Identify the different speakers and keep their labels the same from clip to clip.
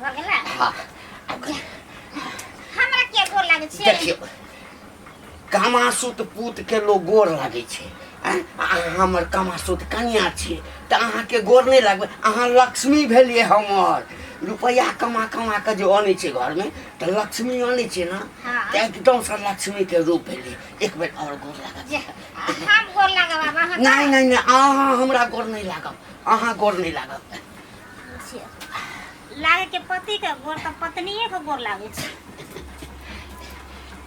Speaker 1: भऽ गेला हाँ
Speaker 2: हमरा के गोर लागै छै देखियो
Speaker 1: कमासुत पूत के लोग गोर लागै छै आँय? अहाँ हमर कमासुत कनिया छी तऽ अहाँके गोर नहि लागबै अहाँ लक्ष्मी भेलियै हमर रुपैआ कमा कमा कऽ जे अनै छै घरमे तऽ लक्ष्मी अनै छै ने हाँ। तऽ एकदमसँ लक्ष्मीके रूप भेलियै एक बेर आओर गोर लागत जे, हम गोर
Speaker 2: लागब आब अहाँ नहि नहि नहि अहाँ
Speaker 1: हमरा गोर नहि लागब अहाँ गोर नहि लागब
Speaker 2: लागे के पति के गोर तो पत्नी के गोर लागे छै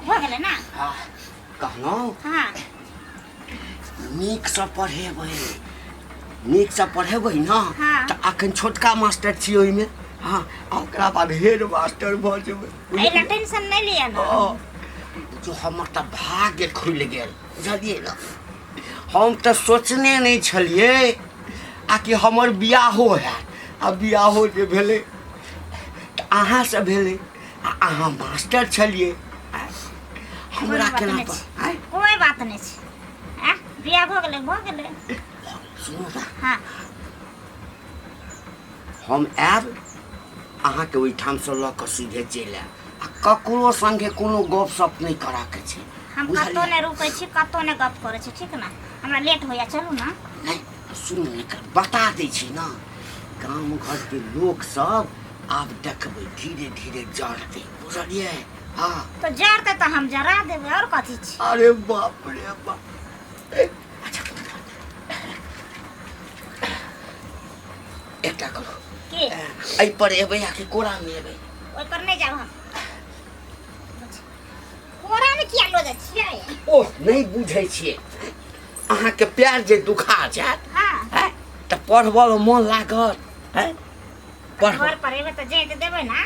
Speaker 2: हो गेलै ना
Speaker 1: हाँ कहलहुँ हाँ नीकसँ पढ़ेबै नीकसँ पढ़ेबै ने हाँ। तऽ अखन छोटका मास्टर छी ओहिमे हाँ आ ओकरा बाद हेड मास्टर भऽ जेबै एहि लए टेंशन नहि
Speaker 2: लिअ ना ओ, जो
Speaker 1: हमर तऽ भाग्य खुलि गेल बुझलियै ने हम तऽ सोचने नहि छलियै आ कि हमर बियाहो हैत आ बियाहो जे भेलै तऽ अहाँसँ भेलै आ अहाँ मास्टर छलियै आँय, हमरा बात केना नहि पर छै। आँय, कोई बात
Speaker 2: नहीं छै आ, बियाह
Speaker 1: भऽ गेलै
Speaker 2: भऽ गेलै सुनू
Speaker 1: ने हाँ हम आयब अहाँके ओहिठामसँ लऽ कऽ सीधे चलि आयब आ ककरो संगे कोनो गप सप नहि करऽ के छै हम कतौ बुझलियै नहि
Speaker 2: रुकै छी कतौ नहि गप करै छी ठीक ने हमरा लेट होइया चलू ने नहि सुन
Speaker 1: एकर बता दै छी ने गाम घरके लोक सब आब देखबै धीरे धीरे जड़तै बुझलियै हँ तो जरते तो
Speaker 2: हम जरा देबै और कथी छी अरे बाप रे
Speaker 1: बाप ए, अच्छा एकटा करू के
Speaker 2: एहि पर
Speaker 1: एबै आ कि कोरामे एबै
Speaker 2: ओहि पर नहि जाब हम कोरा में किया लो जाय छियै ओ नहि
Speaker 1: बुझै छियै अहाँके प्यार जे दुखा जायत हाँ हैं, तऽ
Speaker 2: पढ़बऽ मे
Speaker 1: मोन लागत हैं?
Speaker 2: पढ़बऽ घर पर एबै तऽ जाय तऽ देबै ना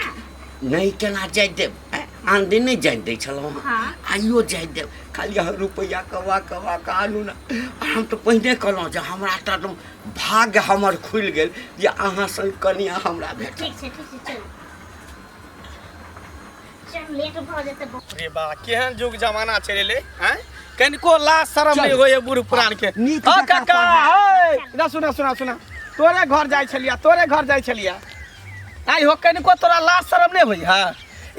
Speaker 2: नहि केना
Speaker 1: जाय देब हैं? आन दिन नहि जाय दै छलहुँ हँ। हँ आइयो जाय
Speaker 2: देब
Speaker 1: खाली अहाँ रुपैआ कमा कमा कऽ आनू ने आ हम तऽ पहिने कहलहुँ जे हमरा तऽ एकदम भाग्य हमर खुलि गेल जे अहाँ सन कनिया हमरा भेट ठीक छै ठीक छै
Speaker 2: चल चल लेट भऽ जेतै बहुत रे बा केहन
Speaker 3: जुग जमाना चलि एलै हैं कनिको लाज शरम नहि होइए बूढ़ पुरान के नीक हँ जकाँ काका पढ़ा। हे ना सुना सुना सुना तोरे घर जाइ छलिया तोरे घर जाइ छलिया आइ हो कनिको तोरा लाज शरम नहि होइए हँ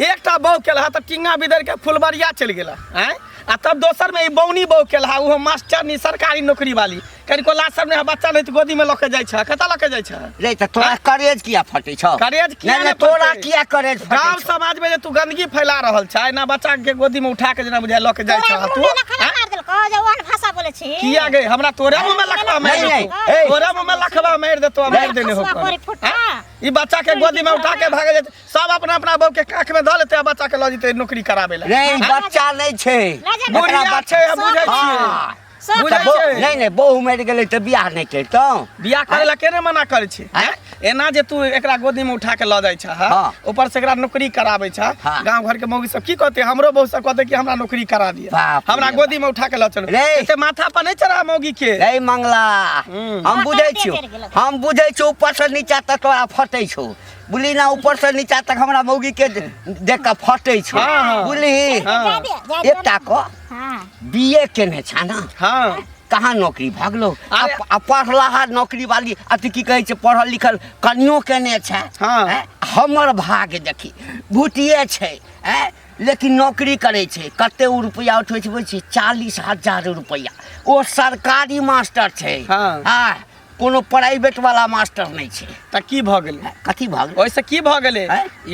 Speaker 3: एकटा बहू केलहा तऽ टिंगा बिदर के फुलबरिया चलि गेला हैं आ तब दोसर में ई बौनी बहू केलहा ओहो मास्टरनी सरकारी नौकरी वाली कनिको लाज सब नहीं बच्चा नहीं तो गोदी में लके जाय छ कता लके जाय छ रे त तोरा करेज
Speaker 1: किया फटे छ करेज किया नहीं तोरा
Speaker 3: किया
Speaker 1: करेज फटे गांव समाज में जे तू
Speaker 3: गंदगी फैला रहल छ ना बच्चा के गोदी में उठा के जना बुझाय लके जाय छ तू भाषा
Speaker 2: बोले छी किया गए हमरा तोरा
Speaker 3: मुंह में लखवा मार दे तोरा मुंह में लखवा मार दे तो मार देने हो ई बच्चा के गोदी में उठा के भागे जेते सब अपना अपना बहू के काख में ध लेते आ बच्चा के ल जेते नौकरी कराबे ले रे बच्चा नहीं
Speaker 1: छे बुढ़िया छे
Speaker 3: बुझे छी सब बुझै बो- छै। नहीं नहीं
Speaker 1: बहू मर गए तो बियाह नहीं करता बियाह करे ला केने
Speaker 3: मना करे छी आँय? एना जे तू एकरा गोदी में उठा के ल जाय छ हाँ। ऊपर से एकरा नौकरी कराबै छ हाँ। गांव घर के मौगी सब की कहते हमरो बहू सब कहते कि हमरा नौकरी करा दिए बाप रे हमरा बाप। गोदी में उठा के ल चलो रे। एते माथा पर नहीं चढ़ा मौगी के नहीं मंगला हम्म।
Speaker 1: हम बुझे छो हम बुझे छो ऊपर से नीचा तक तोरा फटे छो बुली ना ऊपर से नीचा तक हमरा मौगी के देख के फटे छो हाँ, हाँ। बुली हाँ। जा दे, जा दे। एकटा को हाँ बीए केने छा ना हाँ कहाँ
Speaker 3: नौकरी भऽ
Speaker 1: गेलो अरे- आ- आ पढ़ला हा नौकरी वाली अथी की कहै छै पढ़ल लिखल कनियो केने छै हाँ। हैं? हमर भाग देखी भूटिए छै हैं? लेकिन नौकरी करै छै कते ओ रुपैआ उठबै छै बुझै छियै चालीस हजार रुपैआ ओ सरकारी मास्टर छै हाँ। हाँ
Speaker 3: कोनो प्राइवेट
Speaker 1: वाला मास्टर नहीं छे त की भ गेल
Speaker 3: कथी भ गेल ओइसे
Speaker 1: की भ गेल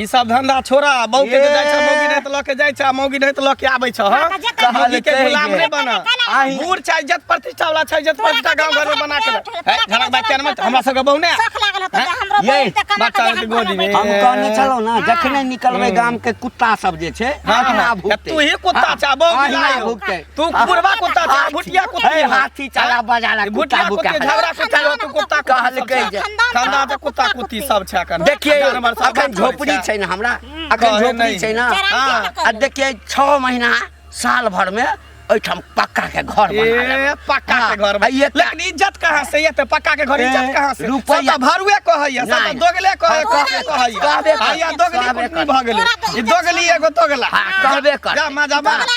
Speaker 3: ई सब धंधा छोड़ा बौ के जाय छ मौगी नै त ल के जाय छ मौगी नै त ल के आबै छ हां कहल के गुलाम नै बना बूढ़ छै इज्जत प्रतिष्ठा वाला छै इज्जत प्रतिष्ठा गांव घर में बना के है धरक बात के मत हमरा सब के बौ नै सख लागल त
Speaker 1: हमरो बौ त कमा के
Speaker 3: गोदी में हम कहने चलो ना
Speaker 1: जखने निकलबे गांव के कुत्ता सब जे छै हां तू ही
Speaker 3: कुत्ता चाबो भुगते तू बुढ़वा कुत्ता था भुटिया कुत्ता है हाथी चला
Speaker 1: बजाला कुत्ता बुका झगड़ा
Speaker 3: कुत्ता हो तू कुत्ता कहल कह जे खानदान त कुत्ता कुत्ती सब छै अखन देखिए अखन
Speaker 1: झोपड़ी छै ना हमरा हम्म। अखन झोपड़ी छै ना हां आ देखिए 6 महीना साल भर में ओइठाम पक्का के घर बना पक्का के हाँ, घर
Speaker 3: बना लेकिन इज्जत कहां से ये तो पक्का के घर इज्जत कहां से रुपया भरुए
Speaker 1: कहैया सब
Speaker 3: तो दोगले कहे कहे कहैया आया दोगली भ गेलै ई दोगली एगो दोगला हां कहबे कर जा
Speaker 1: मजा मार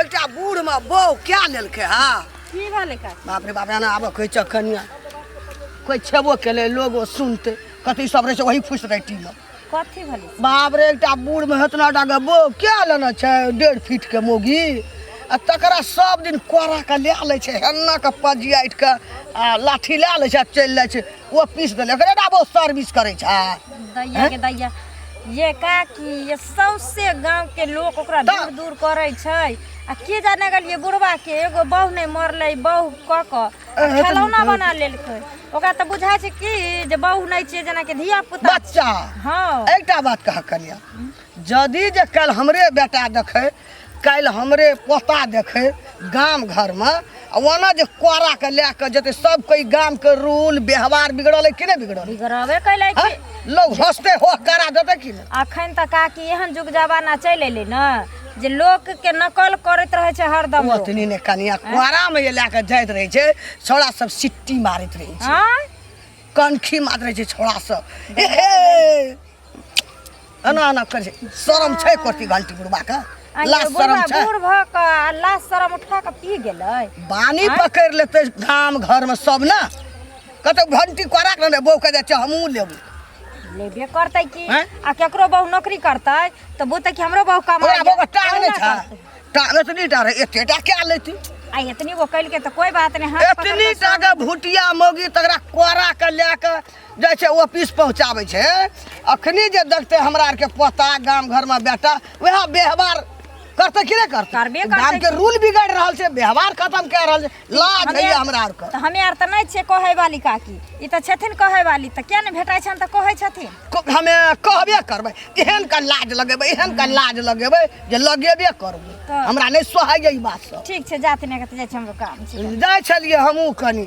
Speaker 4: एकटा बूढ़ में बौ क्या लेलकै हा की भेलै
Speaker 2: का बाप रे बाप एना आबऽ कहै
Speaker 4: छह कनिया कोइ छेबो केलै लोगो सुनतै कथी सब रहै छै वही फुस राइटी में कथी भेलै
Speaker 2: बाप रे एकटा बूढ़
Speaker 4: में हेतना डाके बौ क्या लेना छै डेढ़ फीट के मोगी आ तकरा सब दिन कोरा के लए लै छै हेन्ना के पजियाटि के आ लाठी लए लै छै आ चलि जाइ छै ओ पीस देलक रे डाबो सर्विस करै छै दैया के दैया
Speaker 2: ये का कि ये सौंसे गांव के लोग ओकरा दा- दूर दूर करे छै आ के जाने गल ये बुढ़वा के एगो बहू नहीं मरले बहू क क आ अरे, खेलौना तुम- बना लेलकै ओकरा तऽ बुझाइ छै कि जे बहू नहीं छै जेना कि धिया पुता बच्चा हाँ
Speaker 4: एकटा
Speaker 2: बात कहा
Speaker 4: करिया जदि जे काल्हि हमरे बेटा देखै काल्हि हमरे पोता देखै गाम घरमे आ ओना जे कोराके लए कऽ जेतै सब कोइ गामके रूल व्यवहार बिगड़ल है कि नहि बिगड़ल है? बिगड़बे कैले हैं? छी
Speaker 2: लोग हंसते हो
Speaker 4: करा देतै कि नहि अखन तऽ काकी
Speaker 2: एहन जुग जमाना चलि एलै ने जे लोक के नकल करैत रहै छै हरदम लोक। ओतनी ने कनिया
Speaker 4: कोरामे जे लए कऽ जाइत रहै छै छौड़ा सब सिट्टी मारैत रहै छै आँय?
Speaker 2: कनखी
Speaker 4: मारैत रहै छै छौड़ा सब ए हे एना एना करै छै शरम छै करती घंटी बुढ़बा के आ लाज ये शरम बुढ़वा छै बूढ़ भऽ कऽ आ
Speaker 2: लाश शरम उठा कऽ पी गेलै बानी आँय? पकड़
Speaker 4: लेते गाम घर में सब ना कतौ घंटी करा के ने बौके जाय छै हमहूँ लेबू लेबे
Speaker 2: करतै कि आँय? आ केकरो बहु नौकरी करतै तऽ बुझतै कि हमरो बहु कमा ओकरा बौके टांग नहि छै
Speaker 4: टांग एतनी टा रहे एते टा क्या लेती आ एतनी वो कइल
Speaker 2: के तऽ कोई बात नहीं हाथ पकड़ एतनी के टा के
Speaker 4: भुटिया मौगी तकरा कोरा के लए के जाइ छै ऑफिस पहुँचाबै छै अखनी जे देखतै हमरा आरके पोता गाम घरमे बेटा वएह व्यवहार करतै कि नहि करतै करबे करतै। गाम के रूल बिगड़ रहल छै व्यवहार खत्म कए रहल छै लाज हमे- होइए हमरा आरके तऽ हमे आर तऽ नहि छियै कहै
Speaker 2: वाली काकी ई तऽ छथिन कहै वाली तऽ किया नहि भेटाइ छनि तऽ कहै छथिन को- हमे कहबे
Speaker 4: करबै एहन का लाज लगेबै एहन का लाज लगेबै जे लगेबे करबै तऽ- हमरा नहि सोहाइए ई बात सब ठीक छै जाति नहि कतऽ जाइ
Speaker 2: छै हमरो काम छै जाइ छलियै हमहूँ
Speaker 4: कनी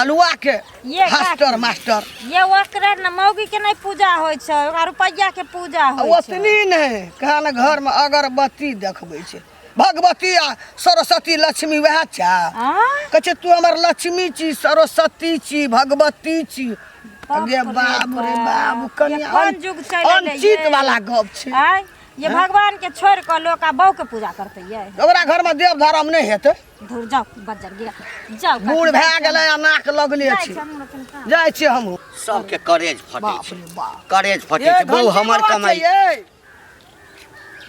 Speaker 2: अलुआ के
Speaker 4: ये का- फास्टर मास्टर ये ओकरे
Speaker 2: न मौगी के नहीं पूजा होइ छै ओकरा रुपैया के पूजा होइ छै ओतनी नहि कहा
Speaker 4: ने घर में अगरबत्ती देखबै छै भगवती आ सरस्वती लक्ष्मी वएह छा आ? कहै छै तू हमर लक्ष्मी छी सरस्वती छी भगवती छी बाप गे रे बाबू रे बाप। बाबू कनी ये कोन युग चलि एलै अनचित ये? वाला गप छै आय ये भगवान
Speaker 2: के छोड़ के लोग आ बहू के पूजा करते ये ओकरा घर में देव
Speaker 4: धर्म नहि हेतै धुर
Speaker 2: जाओ बजर गया जाओ बूढ़ भए गेलै आ
Speaker 4: नाक लगले छी जाइ छी हमहूँ सबके करेज
Speaker 1: फटे बाप छै रे बाप करेज फटे ये छै बहु घंटी हमर बात छै कमाई ये।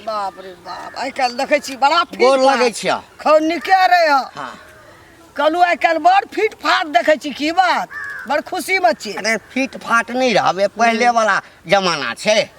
Speaker 4: बाप रे बाप आइ काल्हि देखै छी बड़ा फिट गोर फाट। लगै छियै
Speaker 1: खौ निके रहे
Speaker 4: हँ हाँ
Speaker 1: कहलू
Speaker 4: आइ काल्हि बड़ फिट फाट देखै छी की बात बड़ खुशी में छी अरे फिट फाट
Speaker 1: नहीं रहबे पहले वाला जमाना छै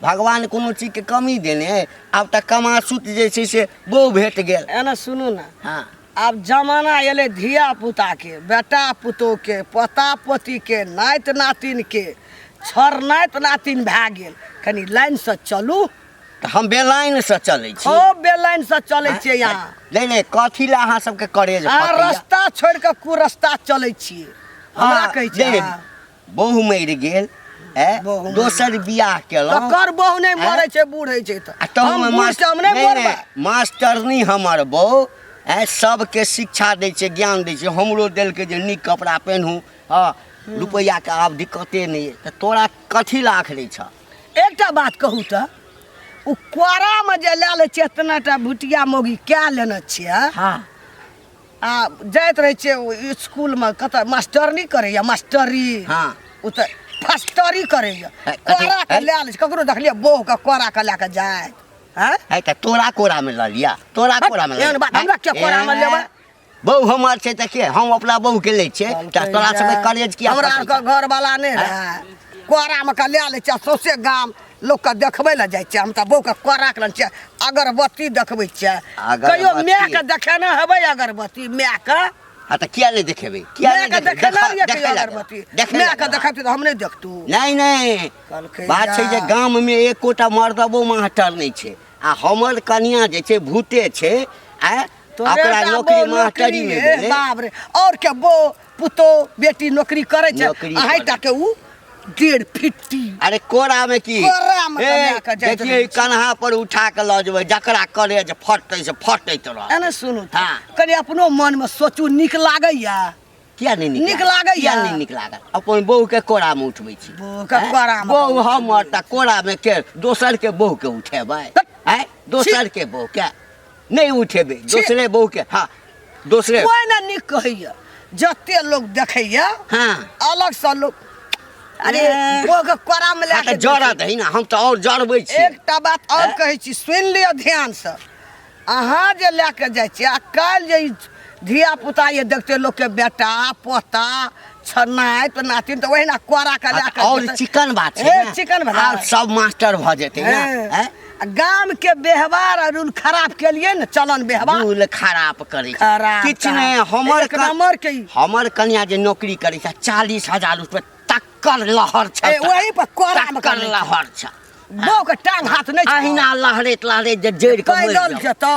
Speaker 1: भगवान कोनो चीजके कमी देने अइ आब तऽ कमासुत जे छै से बौ भेट गेल एना सुनू ने हँ
Speaker 4: आब
Speaker 1: जमाना
Speaker 4: एलै धिया पुताके बेटा पुतोहके पोता पोतीके नाइत नातिनके छर नाइत नातिन भए गेल कनि लाइनसँ चलू तऽ हम
Speaker 1: बेलाइनसँ चलै छी खूब बेलाइनसँ
Speaker 4: चलै छियै यहाँ नहि नहि कथी
Speaker 1: लए अहाँ सबके करेज अहाँ फटैया? रस्ता छोड़ि
Speaker 4: कऽ कुरस्ता चलै छियै हमरा हँ, कहै छियै नहि, अहाँ? बहु मरि
Speaker 1: गेल ए बहु
Speaker 4: दोसर बियाह
Speaker 1: केलहुँ तकर बहु नहि मरै
Speaker 4: छै बूढ़ होइ छै तऽ आ तहू हम मे बूढ़ मास- छी, हम नहि नहि, मरबै नहि, मास्टरनी
Speaker 1: हमर बहू ए सबके शिक्षा दै छै ज्ञान दै छै हमरो देलकै जे नीक कपड़ा पेन्हू हँ रुपैआके आब दिक्कते नहि अइ तऽ तोरा कथी ला आखरै छ एकटा बात
Speaker 4: कहू तऽ ओ कोरामे जे लए लै छियै एतना टा भुटिया मौगी कए लेने छियै हँ
Speaker 1: आ
Speaker 4: जाइत रहै छियै ओ इसकुलमे कतऽ मास्टरनी करैया मास्टरी हाँ। ओ तऽ फस्टरी करैया अ- अथी- कोरा के अ- लए
Speaker 1: लै छै ककरो
Speaker 4: देखलियै बौह के कोरा के लए के जाय हैं है तऽ तोरा कोरा
Speaker 1: में लऽ लिया तोरा हट, कोरा में एहन बात, हमरा किया कोरा में
Speaker 4: लेबै? बहू हमर
Speaker 1: छै तऽ के हम अपना बहू के लै छियै तऽ तोरा सबके करेज किया हमरा पकड़ै आरके छौ? घरवाला
Speaker 4: नहि रहए कोरामे के लए लै छै सौंसे गाम लोकके देखबै लए जाइ छियै हम तऽ बौके कोरा कऽ छियै अगरबत्ती देखबै छियै कहियो मायके देखेने हेबै अगरबत्ती मायके हाँ तो किया नहीं
Speaker 1: देखेबे किया नहीं देखे देखे ना
Speaker 4: देखे अगरबत्ती देखे मैं
Speaker 1: का
Speaker 4: देखा तो हम नहीं देखतू नहीं नहीं
Speaker 1: बात छै
Speaker 4: जे गाम
Speaker 1: में एकोटा मर्दबो मास्टर नहीं छै आ हमर कनिया जे छै भूते छै आ ओकरा नौकरी मास्टरी में भेलै बाप रे और के
Speaker 4: बो पुतो बेटी नौकरी करे छै नौकरी अहाई करै। टा के उ डेढ़ फिट्टी अरे कोरा में
Speaker 1: की कोरा में ए, कन्या के
Speaker 4: जाइत देखिए रहै ई कन्हा पर
Speaker 1: उठा
Speaker 4: के
Speaker 1: लऽ जेबै जकरा करे जे फटतै से फटैत रह एने सुनू तऽ, हाँ।
Speaker 4: कनी अपनो मन
Speaker 1: में
Speaker 4: सोचू नीक लागैया किया नहीं निक
Speaker 1: नीक लागैया? किया नहीं
Speaker 4: निक लागल
Speaker 1: अपन बहू के कोरा में उठबै छी बहू के हैं? कोरा में
Speaker 4: बहू उठबै हमर तऽ
Speaker 1: कोरा में के दोसर के बहू के उठेबै तऽ- हैं? दोसर के बहू के नहीं उठेबे दूसरे बहू के हाँ दूसरे कोई ना निक
Speaker 4: कहैया जते लोग देखैया हाँ अलग
Speaker 1: से लोग
Speaker 4: अरे ए। वो के कोरा में हाँ, लेके तो जरा दही ना
Speaker 1: हम
Speaker 4: तो
Speaker 1: और जरबे छी एकटा बात और कहै
Speaker 4: छी सुनि लिअ ध्यान से अहाँ जे लए कऽ जाइ छी आ काल्हि जे ई धिया पुता ये देखते लोग के बेटा पोता छनाय तो नातिन तो ओहिना कोरा के लए के और जेतै। चिकन बात छै
Speaker 1: ए, ने? चिकन बात। आब सब
Speaker 4: मास्टर भऽ
Speaker 1: जेतै ने ए, हैं? आ गाम के
Speaker 4: व्यवहार और उन खराब के लिए ने चलन व्यवहार भूल खराब
Speaker 1: करै छै खराब किछु काम। नहि
Speaker 4: हमर
Speaker 1: एक कन- नंबर के ई।
Speaker 4: हमर कन्या जे
Speaker 1: नौकरी करै छै चालीस हजार रुपये तक्कर लहर छै ए, वही पर कोरा मे तक्कर
Speaker 4: करै छै। लहर छै
Speaker 1: बौ के टांग
Speaker 4: हाथ नहि छै। अहिना लहरैत लहरैत
Speaker 1: जे जड़ि कऽ मरि पैदल जाउ। जेतौ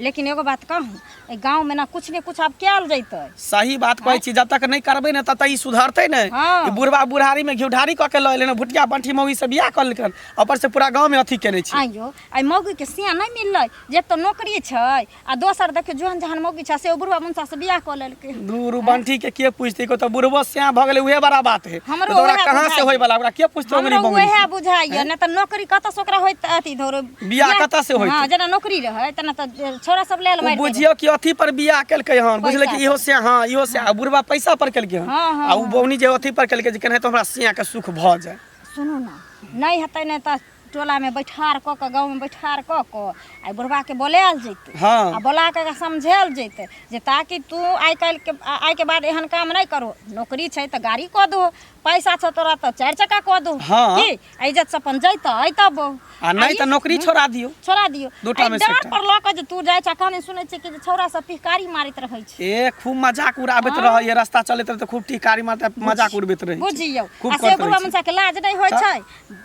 Speaker 2: लेकिन एगो बात कहूँ एहि गाँवमे ने किछु ने किछु आब कयल जैतै सही बात कहै छी
Speaker 3: जब तक नहीं करबे ना तब तक ई सुधरते ने हाँ। ई बुढ़वा बुढ़ारी
Speaker 2: में
Speaker 3: घिउढारी कऽ के लऽ एलै ने भुटिया बंठी मौगी से बियाह कऽ लेलकन ऊपर से पूरा गांव में अथी केने छी आइयो आइ मौगीके
Speaker 2: सिया नहि मिललै जे एक तऽ नौकरी छै आ दोसर देखियौ जोहन जहन मौगी छै से ओ बुढ़वा मुंसा से बियाह कऽ लेल दूर उ बंठी के
Speaker 3: के पूछते को तो बुढ़बो सियाह भ गेले उहे बड़ा बात है हमरो तो ओकरा उहे कहां से बुझाइए।
Speaker 2: होय वाला
Speaker 3: ओकरा
Speaker 2: के
Speaker 3: पूछते ओकरी हमरो बंगड़ी उहे बुझाइए
Speaker 2: ना
Speaker 3: त
Speaker 2: नौकरी कतऽ से ओकरा होइत अथी धोरो बियाह कतऽ से होइत?
Speaker 3: हां जेना नौकरी रहै
Speaker 2: तना त छोरा सब लेल उ मारि देबै। बुझियो कि अथी पर बियाह
Speaker 3: केलकै हन बुझले कि पैसा इहो से हां इहो से आ बुढ़वा पैसा पर केलकै हन हाँ, हाँ, आ उ बौनी जे
Speaker 2: अथी पर
Speaker 3: केलकै जे
Speaker 2: केनाहितो
Speaker 3: हमरा सियाह के सुख भ
Speaker 2: जाए
Speaker 3: सुनू ना
Speaker 2: नहीं
Speaker 3: हेतै नै त टोलामे
Speaker 2: बैठार कऽ कऽ गाँवमे बैठार कऽ कऽ आ बुढ़बाके बोलायल जैतै हँ आ बोला कऽ एकरा समझायल जैतै जे ताकि तू आइ काल्हिके आ- आइके बाद एहन काम नहि करो नौकरी छै तऽ गाड़ी कऽ दहो पैसा छौ तोरा तऽ चारि चक्का कऽ दहो हँ। की इज्जत
Speaker 3: से अपन
Speaker 2: जैतऽ अयतऽ बो आ नहि तऽ
Speaker 3: नौकरी छोड़ा दियौ छोड़ा दियौ दूटा एहि मे से डाँट एकटा। पर लऽ कऽ जे तू जाइ
Speaker 2: छै कहने सुनै छै कि जे छौड़ा सब पिहकारी मारैत रहै छै ए खूब मजाक
Speaker 3: उड़ाबैत रहै ये रास्ता चलैत रहै तऽ खूब टिकारी मारते मजाक उड़बैत रहै छै। बुझियौ खूब आ से करैत बुढ़वा
Speaker 2: रहै छै।
Speaker 3: मुंसा के लाज
Speaker 2: नहि
Speaker 3: होइ छै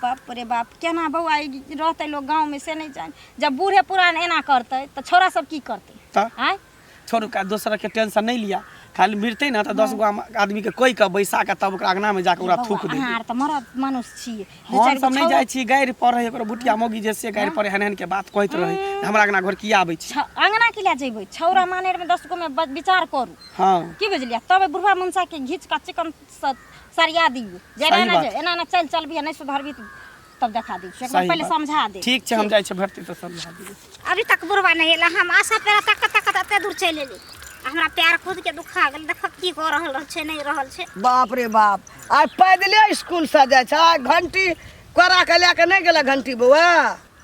Speaker 2: बाप रे बाप केना बौआ ई रहतै लोग गाँव में से नहीं जान जब बूढ़े पुरान एना करतै तो छोरा सब की करतै तऽ आय
Speaker 3: छोड़ू
Speaker 2: का दोसर
Speaker 3: के टेंशन नहीं लिया खाली मिलते ना तो दस गो आम- आदमी के कोई के बैसा के तब ओकरा अंगना में जाके ओकरा बौआ, थूक दे अहाँ आर तऽ मरद मानुस
Speaker 2: छियै दू हम चारि सब गो नहीं छौड़ा- जाय
Speaker 3: छी गाड़ि पर रहे ओकरा बुटिया मोगी जे से गाड़ि पर हन हन के बात कहत रहे हमरा अंगना घर किया आबै छी छ- अंगना के लए जेबै
Speaker 2: छौरा मानेर में दस गो में ब- विचार करू हाँ की बुझलियै
Speaker 3: तब
Speaker 2: बुढ़वा मनसा के घीच का चिकन सरिया दी जे सही एना बात। जे एना ना चल चलबी नहीं सुधरबी त- तब देखा दी एक सही बार पहले बात। समझा दे ठीक छै हम जाइ छी भरती
Speaker 3: तऽ समझा दियौ अभी तक बुढ़वा
Speaker 5: नहीं एला हम आशा पेरा तक तक एते दूर चल एली आ हमरा पैर खुद के दुखा गेल देख की कऽ रहल रहल छै नहीं रहल छै बाप रे बाप
Speaker 4: आइ पैदले स्कूल से जाइ छै आइ घंटी कोरा के लए के नहि गेला घंटी बौआ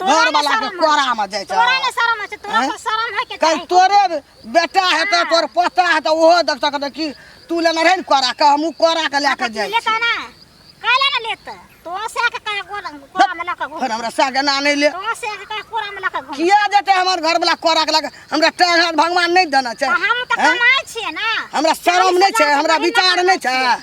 Speaker 4: तोरा घर ने वाला
Speaker 5: के शरम होइ
Speaker 4: कोरा में जाय छै। तोरा ने शरम
Speaker 5: होइ छै तोरा हैं? पर शरम है के कल
Speaker 4: चाही तोरे बेटा हेतै हाँ। तोर पोता हेतै ओहो देख सकत कि तू लेने रहे ने कोरा के हमहूँ कोरा के लए के जाइ छी लेता ना काहे ना लेता तो से के कहे कोरा
Speaker 5: कोरा में लके घूम फेर हमरा साग एना नहि
Speaker 4: ले
Speaker 5: तो से
Speaker 4: के कहे कोरा में
Speaker 5: लके घूम किया जेतै हमर घर
Speaker 4: वाला कोरा के लए के हमरा टाइम हाथ भगवान नहि देना छै तो हम तो हैं? कमाए
Speaker 5: छिए ना हमरा शरम नहि
Speaker 4: छै हमरा विचार नहि छै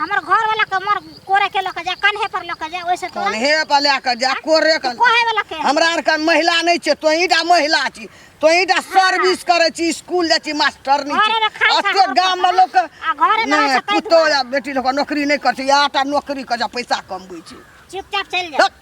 Speaker 4: हमर घर
Speaker 5: वाला के मर कोरे के लक जा कन्हे पर लक जा ओइसे तो कौन हे पर लए कऽ जा
Speaker 4: कोरे कऽ कोहे वाला के हमरा
Speaker 5: आरके महिला
Speaker 4: नहि छै तोही टा महिला छी तोही टा सर्विस करै छी स्कूल जाइ छी मास्टर नहि घरे मे छी खाइ अते खा-
Speaker 5: गाममे लोक आ
Speaker 4: घरे मे रहै छै,
Speaker 5: पुतोह या बेटी लोक
Speaker 4: नौकरी नहि करै छै इएह टा नौकरी कऽ जा पैसा कमबै छै चुपचाप चलि जा हट।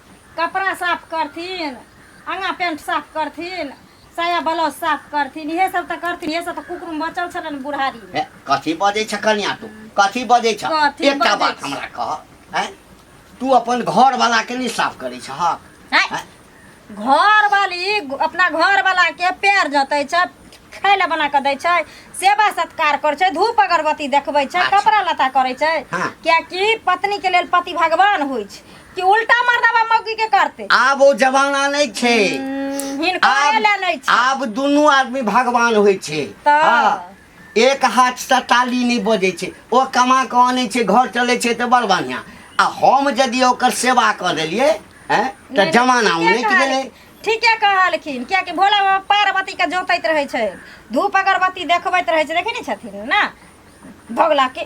Speaker 2: कपड़ा साफ करथिन आगा पेंट साफ करथिन साया ब्लाउज साफ करथिन इहे सब तऽ करथिन इहे सब तऽ कुकुर बचल छलन बुढ़ारी में हे, कथी बजै छ
Speaker 1: कनिया तू कथी बजै छ कथी एकटा बजै बात छी? हमरा
Speaker 2: कह
Speaker 1: हैं? तू अपन घर वाला के नहीं साफ करै छ हँ? हैं?
Speaker 2: घर वाली अपना घर वाला के पैर जतै छै खाय लए बना कऽ दै छै सेवा सत्कार करै छै धूप अगरबत्ती देखबै छै अच्छा। कपड़ा लत्ता करै छै
Speaker 1: हाँ।
Speaker 2: कियाकि
Speaker 1: पत्नी
Speaker 2: के लेल पति भगवान होइ छै कि उल्टा मर्दबा मौगी के करते आब ओ जमाना
Speaker 1: नहि छै हम्म, हिनको आब-
Speaker 2: ले नहीं छी आब दुनू आदमी
Speaker 1: भगवान होइ छै तऽ? हाँ, एक हाथ से ताली नहि बजै छै ओ कमा कऽ अनै छै घर चलै छै तऽ बड़ बढ़िआँ आ हम यदि ओकर सेवा कऽ देलियै हैं, तऽ नहीं, जमाना ठीके उनटि कहल- गेलै ठीके कहलखिन
Speaker 2: कियाकि भोला बाबा पार्वती के जोतैत रहै छै धूप अगरबत्ती देखबैत रहै छै देखै नहि छथिन ना भगला के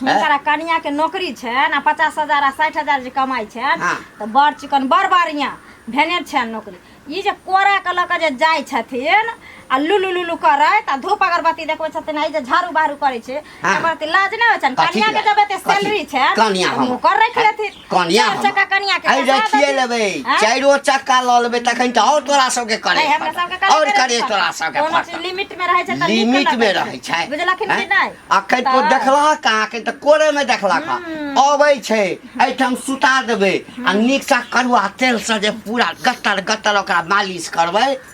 Speaker 1: हिनकरा
Speaker 2: कनिया के नौकरी छनि आ पचास हजार आ साठि हजार जे कमाइ छनि हाँ। तऽ बड़ चिकन बड़ बढ़िया भेने छनि नौकरी ई जे कोरा के लऽ कऽ जे जाइ छथिन आ लुलु लुलु करैत आ धूप अगरबत्ती देखबै छथिन आ ई जे झाड़ू बाहरू करै छै हाँ। एकर तऽ लाज नहि होइ छनि कथी कनिया के लाज? जब एते कथी? सैलरी छनि कनिया तऽ हम- नौकर राखि
Speaker 1: लेथिन
Speaker 2: कनिया चार हम- चक्का
Speaker 1: कनिया के आइ
Speaker 2: चक्का रखिए दे। लेबै आँय?
Speaker 1: चारिओ चक्का लऽ लेबै तखन तऽ आओर तोरा सबके करे अरे हमरा सबके करे आओर पड़त। करे तोरा सबके कोनो पड़त। चीज लिमिट में रहै छै
Speaker 2: तऽ लिमिट नीक मे लगै रहै छै
Speaker 1: बुझलखिन कि आँय?
Speaker 2: नहि अखन तो तऽ- देखलह
Speaker 1: कहाँ के तऽ कोरे मे देखलह का हम्म। अबै छै एहिठाम सुता देबै आ नीक सा कड़ुआ तेल से जे पूरा गटर गटर ओकरा मालिश करबै